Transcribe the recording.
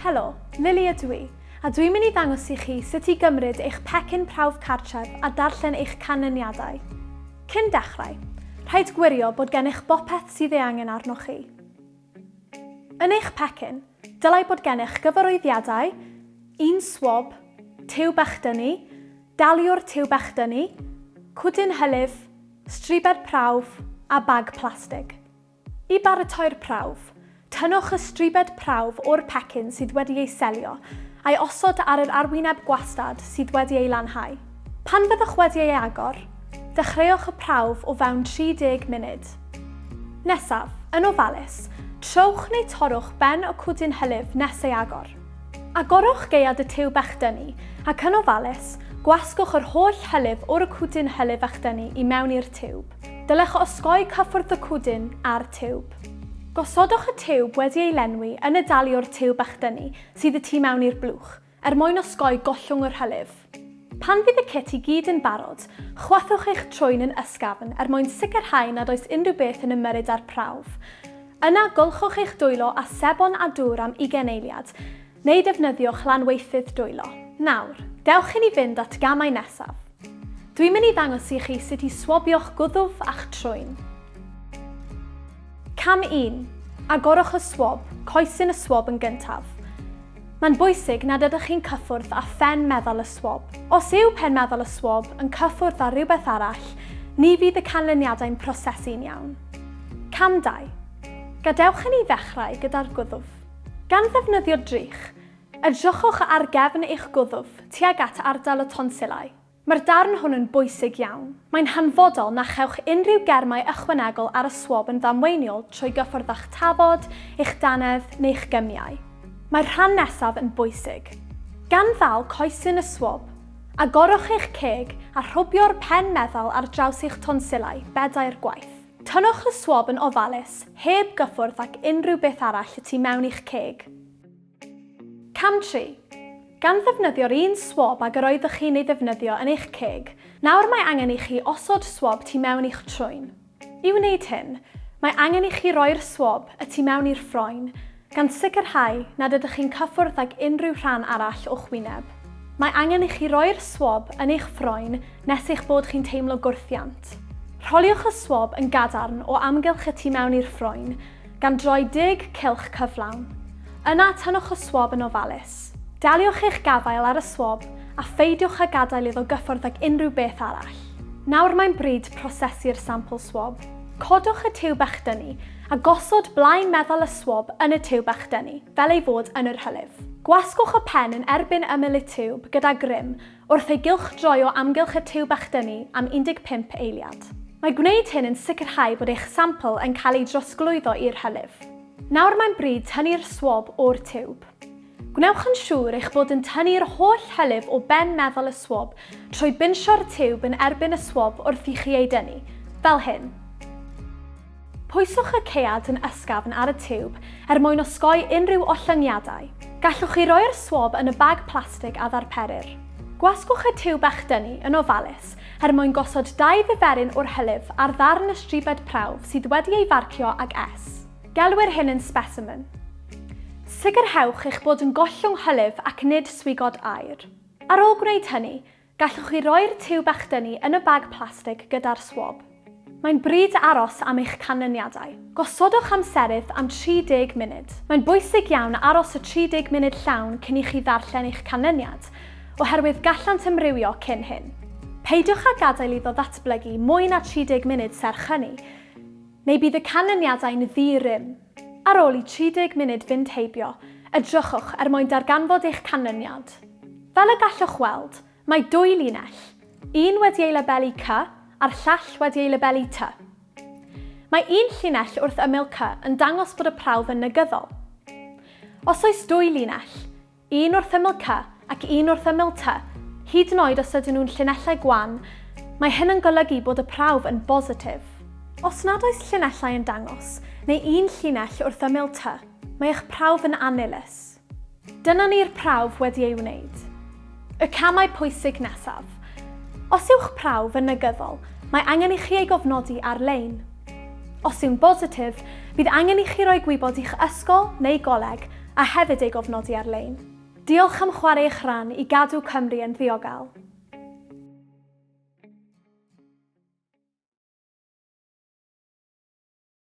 Helo, Lily ydw i, a dwi'n mynd i ddangos i chi sut i gymryd eich pecyn prawf cartref a darllen eich canlyniadau. Cyn dechrau, rhaid gwirio bod gennych bopeth sydd ei angen arnoch chi. Yn eich pecyn, dylai bod gennych gyfarwyddiadau, un swab, tiw bech dynnu, daliwr tiw bech dynnu, cwdyn hylif, Stribed prawf a bag plastig. I baratoi'r prawf, tynnwch y stribed prawf o'r pecyn sydd wedi ei selio a'i osod ar yr arwyneb gwastad sydd wedi ei lanhau. Pan fyddwch wedi ei agor, dechreuwch y prawf o fewn 30 munud. Nesaf, yn ofalus, trowch neu torrwch ben y cwdyn hylif nes ei agor. Agorwch gaead y tiwb echdynnu, ac yn ofalus, gwasgwch yr holl hylif o'r cwdyn hylif echdynnu i mewn i'r tiwb. Dylech osgoi cyffwrdd y cwdyn â'r tiwb. Gosodwch y tiwb wedi ei lenwi yn y dali o'r tiwb echdynnu sydd y tu mewn i'r blwch, er mwyn osgoi gollwng yr hylif. Pan fydd y cit i gyd yn barod, chwythwch eich trwyn yn ysgafn er mwyn sicrhau nad oes unrhyw beth yn ymyrryd â'r prawf. Yna, golchwch eich dwylo â sebon a dŵr am ugain eiliad, neu defnyddiwch lanweithydd dwylo. Nawr, dewch i ni fynd at gamau nesaf. Dwi'n mynd i ddangos i chi sut i swabio'ch gwddf a'ch trwyn. Cam 1. Agorwch y swab, coesyn y swab yn gyntaf. Mae'n bwysig nad ydych chi'n cyffwrdd â phen meddal y swab. Os yw pen meddal y swab yn cyffwrdd â rhywbeth arall, ni fydd y canlyniadau'n prosesu'n iawn. Cam 2. Gadewch i ni ddechrau gyda'r gwddf. Gan ddefnyddio drych, edrychwch ar gefn eich gwddf tuag at ardal y tonsillau. Mae'r darn hwn yn bwysig iawn. Mae'n hanfodol na chewch unrhyw germau ychwanegol ar y swab yn ddamweiniol trwy gyffordd â'ch tafod, eich dannedd neu'ch gymiau. Mae'r rhan nesaf yn bwysig. Gan ddal coesyn y swab, agorwch eich ceg a rhwbio'r pen meddal ar draws eich tonsillau bedair gwaith. Tynnwch y swab yn ofalus, heb gyffwrdd ac unrhyw beth arall y tu mewn i'ch ceg. Cam 3. Gan ddefnyddio'r un swab ag yr oeddech chi'n ei ddefnyddio yn eich ceg, nawr mae angen i chi osod swab tu mewn i'ch trwyn. I wneud hyn, mae angen i chi roi'r swab y tu mewn i'r ffroen, gan sicrhau nad ydych chi'n cyffwrdd ag unrhyw rhan arall o'ch wyneb. Mae angen i chi roi'r swab yn eich ffroen nes eich bod chi'n teimlo gwrthiant. Rholiwch y swab yn gadarn o amgylch y tu mewn i'r ffroen, gan droi dug cylch cyflawn. Yna tynnwch y swab yn ofalus. Daliwch eich gafael ar y swab a pheidiwch â gadael iddo gyffwrdd ag unrhyw beth arall. Nawr mae'n bryd prosesu'r sampl swab. Codwch y tiwb echdynnu a gosod blaen meddal y swab yn y tiwb echdynnu, fel ei fod yn yr hylif. Gwasgwch y pen yn erbyn ymyl y tiwb gyda grym Wrth ei gylchdroi o amgylch y tiwb a'ch dynnu am 15 eiliad. Mae gwneud hyn yn sicrhau bod eich sampl yn cael ei drosglwyddo i'r hylif. Nawr mae'n bryd tynnu'r swab o'r tiwb. Gwnewch yn siŵr eich bod yn tynnu'r holl hylif o ben meddal y swab trwy binsio'r tiwb yn erbyn y swab wrth i chi ei dynnu, fel hyn. Pwyswch y caead yn ysgafn ar y tiwb er mwyn osgoi unrhyw ollyngiadau. Gallwch chi roi'r swab yn y bag plastig a ddarperir. Gwasgwch y tiwb a'ch dynnu yn ofalus er mwyn gosod dau ddyferyn o'r hylif ar ddarn y stribed prawf sydd wedi ei farcio ag S. Gelwir hyn yn specimen. Sicrhewch eich bod yn gollwng hylif ac nid swigod aer. Ar ôl gwneud hynny, Gallwch chi roi'r tiwb echdynnu yn y bag plastig gyda'r swab. Mae'n bryd aros am eich canlyniadau. Gosodwch amserydd am 30 munud. Mae'n bwysig iawn aros y 30 munud llawn cyn i chi ddarllen eich canlyniad, oherwydd gallant ymrywio cyn hyn. Peidiwch â gadael iddo ddatblygu mwy na 30 munud serch hynny, neu bydd y canlyniadau'n ddi-rym. Ar ôl i 30 munud fynd heibio, edrychwch er mwyn darganfod eich canlyniad. Fel y gallwch weld, mae dwy linell, un wedi ei labelu Cy a'r llall wedi ei labelu Ty. Mae un llinell wrth ymyl Cy yn dangos bod y prawf yn negyddol. Os oes dwy linell, Un wrth ymyl Cy ac un wrth ymyl Ty, hyd yn oed os ydyn nhw'n llinellau gwan, mae hyn yn golygu bod y prawf yn bositif. Os nad oes llinellau yn dangos, neu un llinell wrth ymyl Ty, mae eich prawf yn annilys. Dyna ni'r prawf wedi ei wneud. Y camau pwysig nesaf. Os yw'ch prawf yn negyddol, mae angen i chi ei gofnodi ar-lein. Os yw'n bositif, bydd angen i chi roi gwybod i'ch ysgol neu goleg a hefyd ei gofnodi ar-lein. Diolch am chwarae eich rhan i gadw Cymru yn ddiogel.